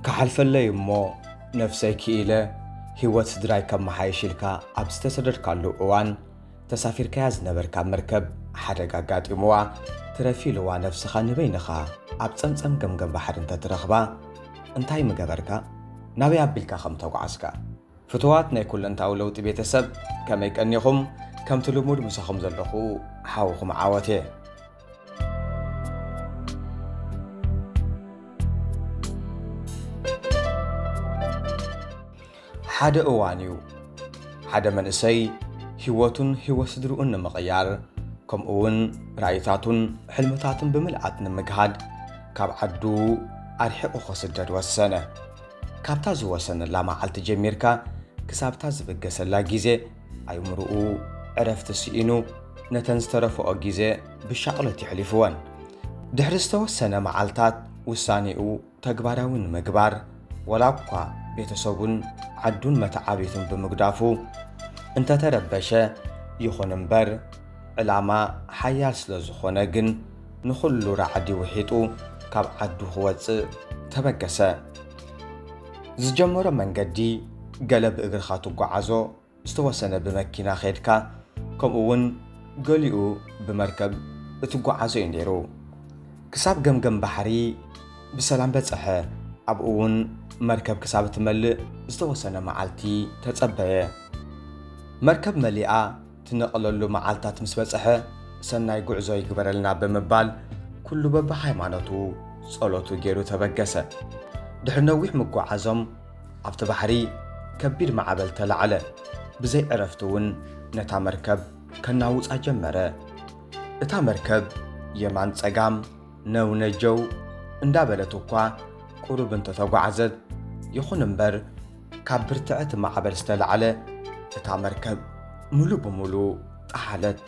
ክሓልፈለይ እሞ ነፍሰይ ክኢለ ህይወት ስድራይ ከመሓይሽ ኢልካ ኣብ ዝተሰደድካሉ እዋን ተሳፊርካያ ዝነበርካ መርከብ ሓደጋ ኣጋጢምዋ ትረፊ ኢልዋ ነፍስኻ ንበይንኻ ኣብ ጸምጸም ገምገም ባሕሪ እንተትረኽባ እንታይ ምገበርካ ናበይ ኣቢልካ ከም ተጓዓዝካ ፍትዋት ናይ ኩለንታዊ ለውጢ ቤተሰብ ከመይ ቀኒኹም ከምቲ ልሙድ ምሳኹም ዘለኹ ሓውኹም ዓወት እየ ሓደ እዋን እዩ ሓደ መንእሰይ ህይወቱን ህይወት ስድርኡን ንምቕያር ከምኡ እውን ራእይታቱን ሕልምታቱን ብምልኣት ንምግሃድ ካብ ዓዱ ኣርሒቑ ክስደድ ወሰነ ካብታ ዝወሰነላ መዓልቲ ጀሚርካ ክሳብታ ዝብገሰላ ግዜ ኣይምርኡ ዕረፍቲ ስኢኑ ነተን ዝተረፈኦ ግዜ ብሻቕሎት የሕሊፍወን ድሕሪ ዝተወሰነ መዓልታት ውሳኔኡ ተግባራዊ ንምግባር ወላ እኳ ቤተሰቡን ዓዱን መተዓቢቱን ብምግዳፉ እንተተረበሸ ይኹን እምበር ዕላማ ሓያል ስለ ዝኾነ ግን ንኹሉ ራዕዲ ውሒጡ ካብ ዓዱ ክወፅእ ተበገሰ ዝጀመሮ መንገዲ ገለ ብእግርኻ ትጓዓዞ፣ ዝተወሰነ ብመኪና ኼድካ፣ ከምኡውን ገሊኡ ብመርከብ እትጓዓዞ እዩ ነይሩ። ክሳብ ገምገም ባሕሪ ብሰላም በጽሐ፣ ኣብኡ እውን መርከብ ክሳብ እትመልእ ዝተወሰነ መዓልቲ ተጸበየ። መርከብ መሊኣ ትነቕለሉ መዓልታት ምስ በጽሐ ሰናይ ጉዕዞ ይግበረልና ብምባል ኩሉ በብሃይማኖቱ ጸሎቱ ጌሩ ተበገሰ። ድሕሪ ነዊሕ ምጉዓዞም ኣብቲ ባሕሪ ከቢድ ማዕበል ተላዕለ። ብዘይ ዕረፍቲ እውን ነታ መርከብ ከናውጻ ጀመረ። እታ መርከብ የማን ጸጋም ነው ነጀው እንዳበለት እኳ ቁሩብ እንተተጓዕዘት ይኹን እምበር ካብ ብርትዐ እቲ ማዕበል ዝተላዕለ እታ መርከብ ምሉእ ብምሉእ ጠሓለት።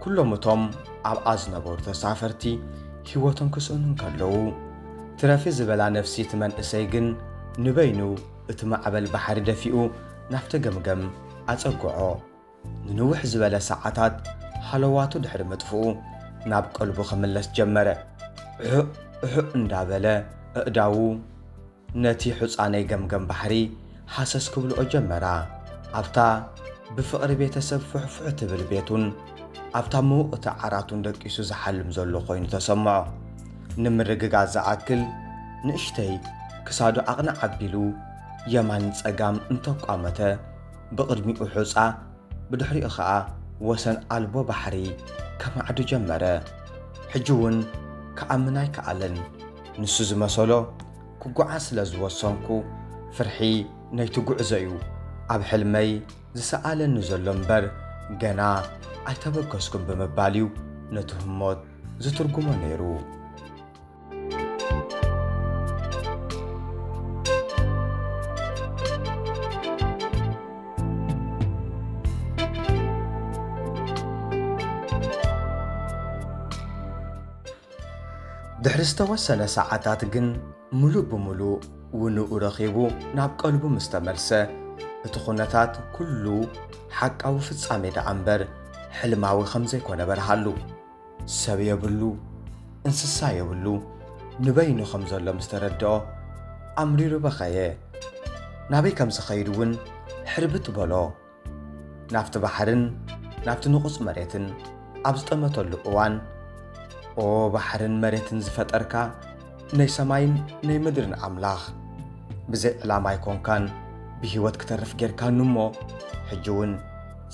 ኩሎም እቶም ኣብኣ ዝነበሩ ተሳፈርቲ ህይወቶም ክስእኑ እንከለዉ ትረፊ ዝበላ ነፍሲ እቲ መንእሰይ ግን ንበይኑ እቲ ማዕበል ባሕሪ ደፊኡ ናብቲ ገምገም ኣጸግዖ። ንንውሕ ዝበለ ሰዓታት ሃለዋቱ ድሕሪ ምጥፍኡ ናብ ቀልቡ ክምለስ ጀመረ። እሑእ እሑእ እንዳበለ ኣእዳዉ ነቲ ሑጻነይ ገምገም ባሕሪ ሃሰስ ክብልኦ ጀመራ። ኣብታ ብፍቕሪ ቤተሰብ ፉሕፉሕ ትብል ቤቱን ኣብታ ምውቕቲ ዓራቱን ደቂሱ ዝሓልም ዘሎ ኮይኑ ተሰምዖ። ንምርግጋጽ ዝኣክል ንእሽተይ ክሳዱ ዓቕንዕ ኣቢሉ የማን ጸጋም እንተቋመተ ብቕድሚኡ ሑጻ ብድሕሪኡ ከኣ ወሰን ኣልቦ ባሕሪ ከማዕዱ ጀመረ። ሕጂ'ውን ክኣምን ኣይከኣለን። ንሱ ዝመሰሎ ክጓዓዝ ስለ ዝወሰንኩ ፍርሒ ነይቲ ጉዕዞ እዩ ኣብ ሕልመይ ዝሰኣለኒ ዘሎ እምበር ገና ኣይተበገስኩም ብምባል እዩ ነቲ ህሞት ዝትርጉሞ ነይሩ። ድሕሪ ዝተወሰነ ሰዓታት ግን ምሉእ ብምሉእ ውንኡ ረኺቡ ናብ ቀልቡ ምስ ተመልሰ፣ እቲ ዅነታት ኵሉ ሓቃዊ ፍጻሜ ደኣ እምበር ሕልማዊ ከም ዘይኰነ በርሃሉ። ሰብ የብሉ፣ እንስሳ የብሉ፣ ንበይኑ ከም ዘሎ ምስ ተረድኦ፣ ኣምሪሩ በኸየ። ናበይ ከም ዝኸይድ እውን ሕርብት በሎ። ናብቲ ባሕርን ናብቲ ንቑጽ መሬትን ኣብ ዝጠመተሉ እዋን ኦ ባሕርን መሬትን ዝፈጠርካ ናይ ሰማይን ናይ ምድርን ኣምላኽ ብዘይ ዕላማ ኣይኮንካን ብህይወት ክተርፍ ጌርካኒ እሞ ሕጂ እውን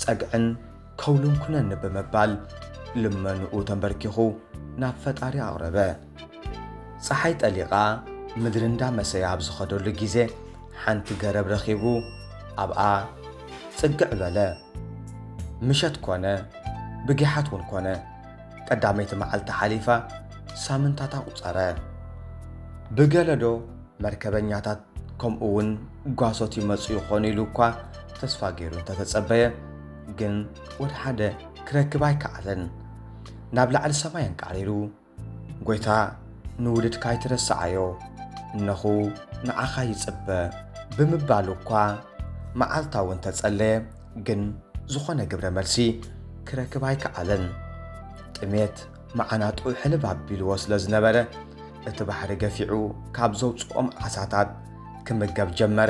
ጸግዕን ከውልን ኩነኒ ብምባል ልመንኡ ተንበርኪኹ ናብ ፈጣሪ ኣቕረበ። ጸሓይ ጠሊቓ ምድሪ እንዳመሰየ ኣብ ዝኸደሉ ግዜ ሓንቲ ገረብ ረኺቡ ኣብኣ ጽግዕ በለ። ምሸት ኮነ ብጊሓት እውን ኮነ ቀዳመይቲ መዓልቲ ሓሊፋ ሳምንታት ኣቑጸረ። ብገለዶ መርከበኛታት ከምኡ እውን ጓሶት ይመጹ ይኾኑ ኢሉ እኳ ተስፋ ገይሩ እንተተጸበየ ግን ወልሓደ ክረክብ ኣይከኣለን። ናብ ላዕሊ ሰማይ ኣንቃሪሩ ጐይታ ንውሉድካ ኣይትረስዓዮ፣ እነኹ ንዓኻ ይጽበ ብምባሉ እኳ መዓልታዊ እንተ ጸለየ ግን ዝኾነ ግብረ መልሲ ክረክብ ኣይከኣለን። ጥሜት መዓናጥኡ ሕልብ ኣቢልዎ ስለ ዝነበረ እቲ ባሕሪ ገፊዑ ካብ ዘውጽኦም ዓሳታት ክምገብ ጀመረ።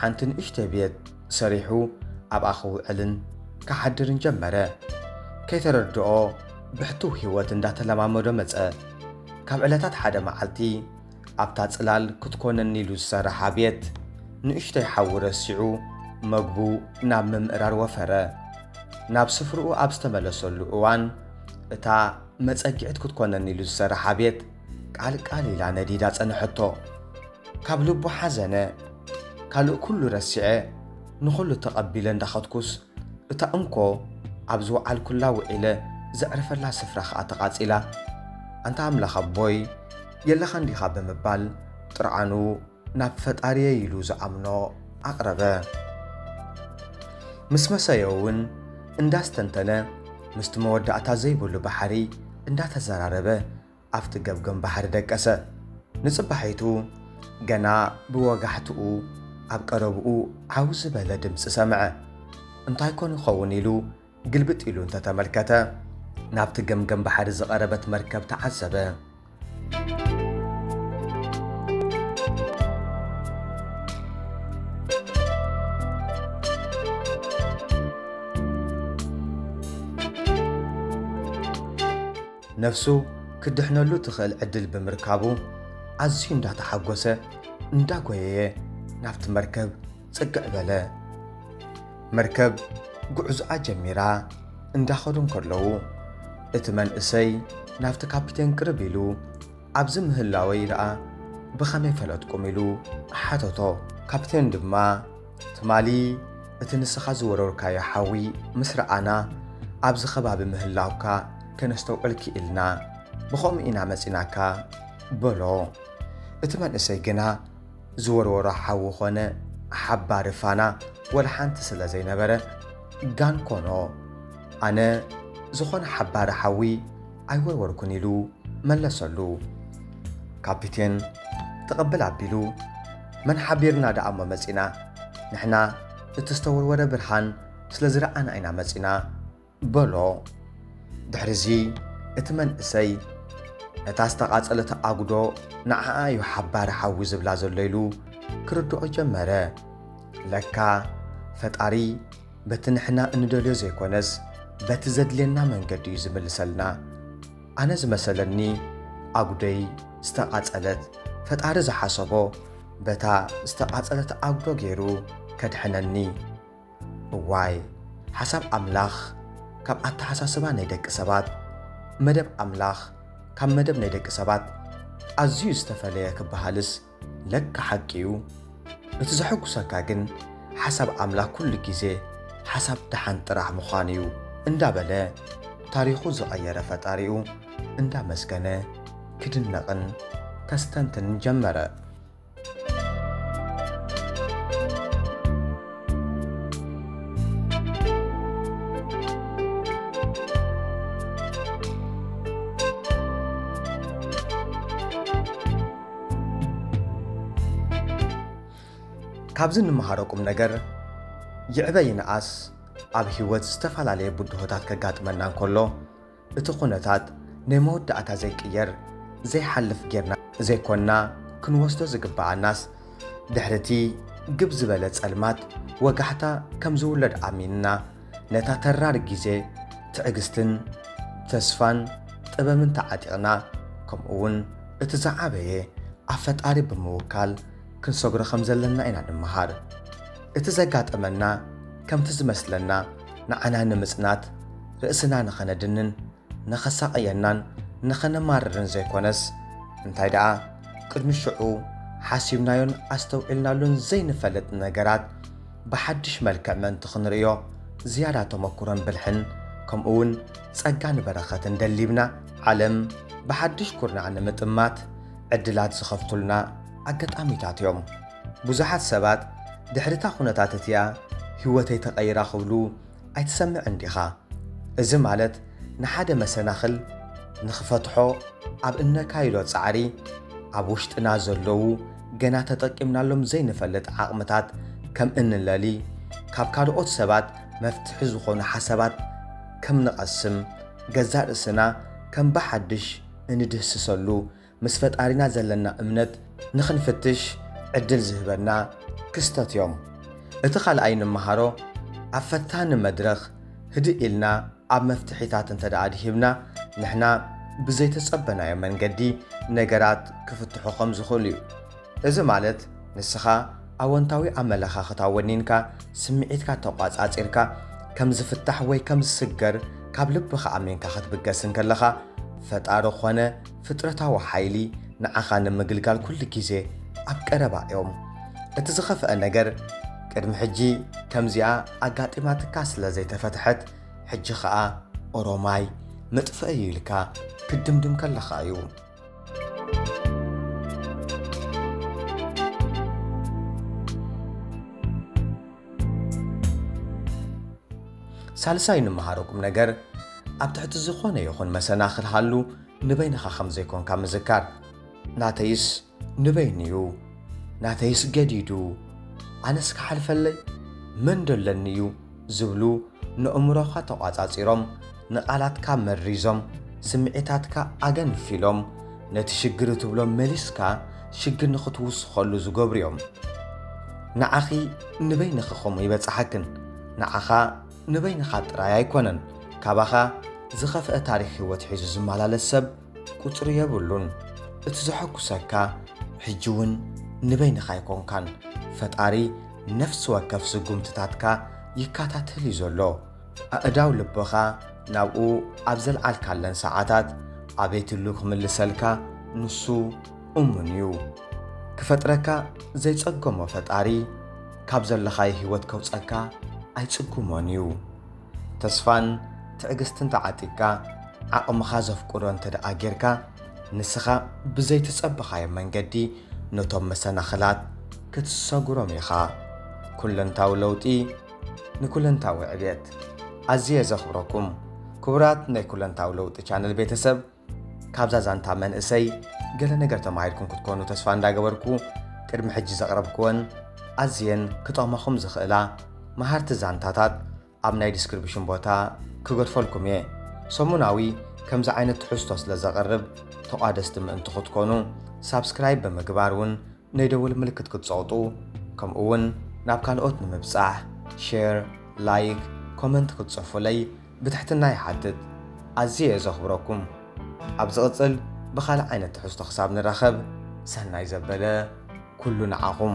ሓንቲ ንእሽተይ ቤት ሰሪሑ ኣብኣ ክውዕልን ክሓድርን ጀመረ። ከይተረድኦ ብሕቱው ህይወት እንዳተለማመዶ መጸ። ካብ ዕለታት ሓደ መዓልቲ ኣብታ ጽላል ክትኮነኒ ኢሉ ዝሰረሓ ቤት ንእሽተይ ሓዊ ረሲዑ መግቡ ናብ ምምእራር ወፈረ። ናብ ስፍርኡ ኣብ ዝተመለሰሉ እዋን እታ መጸግዒት ክትኮነኒ ኢሉ ዝሰረሓ ቤት ቃልቃል ኢላ ነዲዳ ጸነሐቶ። ካብ ልቡ ሓዘነ ካልእ ኩሉ ረሲዐ ንኹሉ ተቐቢለ እንዳኸድኩስ እታ እንኮ ኣብ ዝወዓልኩላ ውዒለ ዘዕርፈላ ስፍራ ኸኣ ተቓጺላ ኣንታ ኣምላኽ ኣቦይ የለኻን ዲኻ ብምባል ጥርዓኑ ናብ ፈጣሪየይ ኢሉ ዝኣምኖ ኣቕረበ ምስ መሰዮ እውን እንዳስተንተነ ምስቲ መወዳእታ ዘይብሉ ባሕሪ እንዳተዘራረበ ኣፍቲ ገምገም ባሕሪ ደቀሰ። ንጽባሒቱ ገና ብወጋሕትኡ ኣብ ቀረብኡ ዓው ዝበለ ድምጺ ሰምዐ። እንታይ ኮን ይኸውን ኢሉ ግልብጥ ኢሉ እንተ ተመልከተ፣ ናብቲ ገምገም ባሕሪ ዝቐረበት መርከብ ተዓዘበ። ነፍሱ ክድሕነሉ ትኽእል ዕድል ብምርካቡ ኣዝዩ እንዳተሓጎሰ እንዳጎየየ ናብቲ መርከብ ጽግዕ በለ። መርከብ ጉዕዞኣ ጀሚራ እንዳኸዱ እንከለዉ እቲ መንእሰይ ናብቲ ካፒቴን ቅርብ ኢሉ ኣብዚ ምህላወይ ደኣ ብኸመይ ፈለጥኩም ኢሉ ሓተቶ። ካፒቴን ድማ ትማሊ እቲ ንስኻ ዝወረርካዮ ሓዊ ምስ ረኣና ኣብዚ ከባቢ ምህላውካ ከነስተውዕል ክኢልና፣ ብኸምኡ ኢና መጺናካ በሎ። እቲ መንእሰይ ግና ዝወርወሮ ሓዊ ኮነ ሓባሪ ፋና ወላ ሓንቲ ስለ ዘይነበረ ጋን ኮኖ ኣነ ዝኾነ ሓባሪ ሓዊ ኣይወርወርኩን ኢሉ መለሰሉ። ካፒቴን ተቐብል ኣቢሉ መን ሓቢርና ደኣ'ሞ መጺና፣ ንሕና እቲ ዝተወርወረ ብርሃን ስለ ዝረኣና ኢና መጺና። በሎ። ድሕሪ'ዚ እቲ መንእሰይ ነታ ዝተቓጸለት ኣጕዶ ንዓኣ እዩ ሓባሪ ሓዊ ዝብላ ዘሎ ኢሉ ክርድኦ ጀመረ። ለካ ፈጣሪ በቲ ንሕና እንደልዮ ዘይኮነስ በቲ ዘድልየና መንገዲ እዩ ዝምልሰልና። ኣነ ዝመሰለኒ ኣጉደይ ዝተቓጸለት ፈጣሪ ዝሓሰቦ በታ ዝተቓጸለት ኣጉዶ ገይሩ ከድሕነኒ እዋይ ሓሳብ ኣምላኽ ካብ ኣተሓሳስባ ናይ ደቂ ሰባት መደብ ኣምላኽ ካብ መደብ ናይ ደቂ ሰባት ኣዝዩ ዝተፈለየ ክበሃልስ ለካ ሓቂ እዩ። እቲ ዘሐጉሰካ ግን ሓሳብ ኣምላክ ኩሉ ግዜ ሓሳብ ደሓን ጥራሕ ምዃኑ እዩ እንዳ በለ ታሪኹ ዝቐየረ ፈጣሪኡ እንዳ መስገነ ክድነቕን ከስተንትንን ጀመረ። ካብዚ እንመሃሮ ቁም ነገር ይዕበ ይንኣስ ኣብ ህይወት ዝተፈላለየ ብድሆታት ከጋጥመና እንከሎ እቲ ኩነታት ናይ መወዳእታ ዘይቅየር ዘይሓልፍ ጌርና ዘይኮንና ክንወስዶ ዝግብኣናስ ድሕሪ እቲ ግብ ዝበለ ጸልማት ወጋሕታ ከም ዝውለድ ኣሚንና ነታ ተራር ግዜ ትዕግስትን ተስፋን ጥበብን ተዓጢቕና ከምኡ ውን እቲ ዝዓበየ ኣብ ፈጣሪ ብምውካል ክንሰግሮ ከም ዘለና ኢና ንመሃር። እቲ ዘጋጠመና ከምቲ ዝመስለና ንዓና ንምጽናት ርእስና ንኸነድንን ንኸሳቕየናን ንኸነማርርን ዘይኮነስ፣ እንታይ ደኣ ቅድሚ ሽዑ ሓሲብናዮን ኣስተውዒልናሉን ዘይንፈልጥ ነገራት ብሓድሽ መልክዕ ምእንቲ ኽንርእዮ ዝያዳ ተመክሮን ብልሕን ከምኡውን ጸጋን በረኸትን ደሊብና ዓለም ብሓድሽ ኩርናዕ ንምጥማት ዕድላት ዝኸፍቱልና ኣገጣሚታት እዮም። ብዙሓት ሰባት ድሕሪ እታ ዅነታት እቲኣ ህይወተይ ተቐይራ ክብሉ ኣይትሰምዕን ዲኻ? እዚ ማለት ንሓደ መሰናኽል ንኽፈትሖ ኣብ እነካይዶ ጻዕሪ ኣብ ውሽጥና ዘለዉ ገና ተጠቂምናሎም ዘይንፈልጥ ዓቕምታት ከም እንለሊ፣ ካብ ካልኦት ሰባት መፍትሒ ዝኾኑ ሓሳባት ከም ንቐስም፣ ገዛእ ርእስና ከም ብሓድሽ እንድህስሰሉ ምስ ፈጣሪና ዘለና እምነት ንኽንፍትሽ ዕድል ዝህበና ክስተት እዮም። እቲ ካልኣይ ንመሃሮ ኣብ ፈታኒ መድረኽ ህድእ ኢልና ኣብ መፍትሒታት እንተድኣ ኣድሂብና ንሕና ብዘይተጸበናዮ መንገዲ ነገራት ክፍትሑ ከም ዝኽእሉ እዩ። እዚ ማለት ንስኻ ኣወንታዊ ኣመለኻኽታ ወኒንካ ስምዒትካ ተቋጻጺርካ ከም ዝፍታሕ ወይ ከም ዝስገር ካብ ልብኻ ኣሚንካ ክትብገስ እንከለኻ ፈጣሪ ኾነ ፍጥረታዊ ሓይሊ ንዓኻ ንምግልጋል ኩሉ ግዜ ኣብ ቀረባ እዮም። እቲ ዝኸፍአ ነገር ቅድሚ ሕጂ ከምዚኣ ኣጋጢማትካ ስለ ዘይተፈትሐት ሕጂ ኸኣ ኦሮማይ መጥፍኢ እዩ ኢልካ ክትድምድም ከለኻ እዩ። ሳልሳይ ንመሃሮ ቁም ነገር ኣብ ትሕቲ ዝኾነ ይኹን መሰናኽል ሃሉ ንበይንኻ ከም ዘይኮንካ ምዝካር። ናተይስ ንበይኑ'ዩ፣ ናተይስ ገዲዱ፣ ኣነስ ክሓልፈለይ መን ዶ ኣለኒ'ዩ ዝብሉ ነእምሮኻ ተቋጻጺሮም፣ ንቓላትካ መሪዞም፣ ስምዒታትካ ኣገንፊሎም፣ ነቲ ሽግር እትብሎ መሊስካ ሽግር ንኽትውስኸሉ ዝገብሩ'ዮም። ንዓኺ ንበይንኺ ከምኡ ይበጽሓክን ንዓኻ። ንበይንኻ ጥራይ ኣይኮነን ካባኻ ዝኸፍኣ ታሪኽ ህይወት ሒዙ ዝመላለስ ሰብ ቁጽሪ የብሉን። እቲ ዘሐጉሰካ ሕጂ ውን ንበይንኻ ኣይኮንካን ፈጣሪ ነፍሲ ወከፍ ስጉምትታትካ ይከታተል ዩ ዘሎ። ኣእዳው ልብኻ ናብኡ ኣብ ዘልዓልካለን ሰዓታት ኣቤትሉ ክምልሰልካ ንሱ፣ እሙን እዩ ክፈጥረካ ዘይጸገሞ ፈጣሪ ካብ ዘለኻዮ ህይወት ከውጸካ ኣይጽጉሞን እዩ ተስፋን ትዕግስትን ተዓጢቅካ ዓቕምኻ ዘፍቅዶ እንተ ደኣ ጌርካ ንስኻ ብዘይተጸበኻዮ መንገዲ ነቶም መሰናኽላት ክትሰጉሮም ኢኻ ኩለንታዊ ለውጢ ንኩለንታዊ ዕብየት ኣዝየ ዘኽብረኩም ክቡራት ናይ ኩለንታዊ ለውጢ ቻነል ቤተሰብ ካብዛ ዛንታ መንእሰይ ገለ ነገር ተማሂርኩም ክትኮኑ ተስፋ እንዳገበርኩ ቅድሚ ሕጂ ዘቕረብክወን ኣዝየን ክጠቕማኹም ዝኽእላ መሃርቲ ዛንታታት ኣብ ናይ ዲስክሪፕሽን ቦታ ክገድፈልኩም እየ ሰሙናዊ ከምዚ ዓይነት ትሕዝቶ ስለ ዘቕርብ ተቋደስቲ ምእንቲ ክትኮኑ ሳብስክራይብ ብምግባር እውን ናይ ደወል ምልክት ክትጸቕጡ ከምኡውን ናብ ካልኦት ንምብጻሕ ሼር ላይክ ኮመንት ክትጽሕፉለይ ብትሕትና ይሓትት ኣዝየ እየ ዘኽብረኩም ኣብ ዝቕጽል ብኻልእ ዓይነት ትሕዝቶ ክሳብ ንራኸብ ሰናይ ዘበለ ኩሉ ንዓኹም።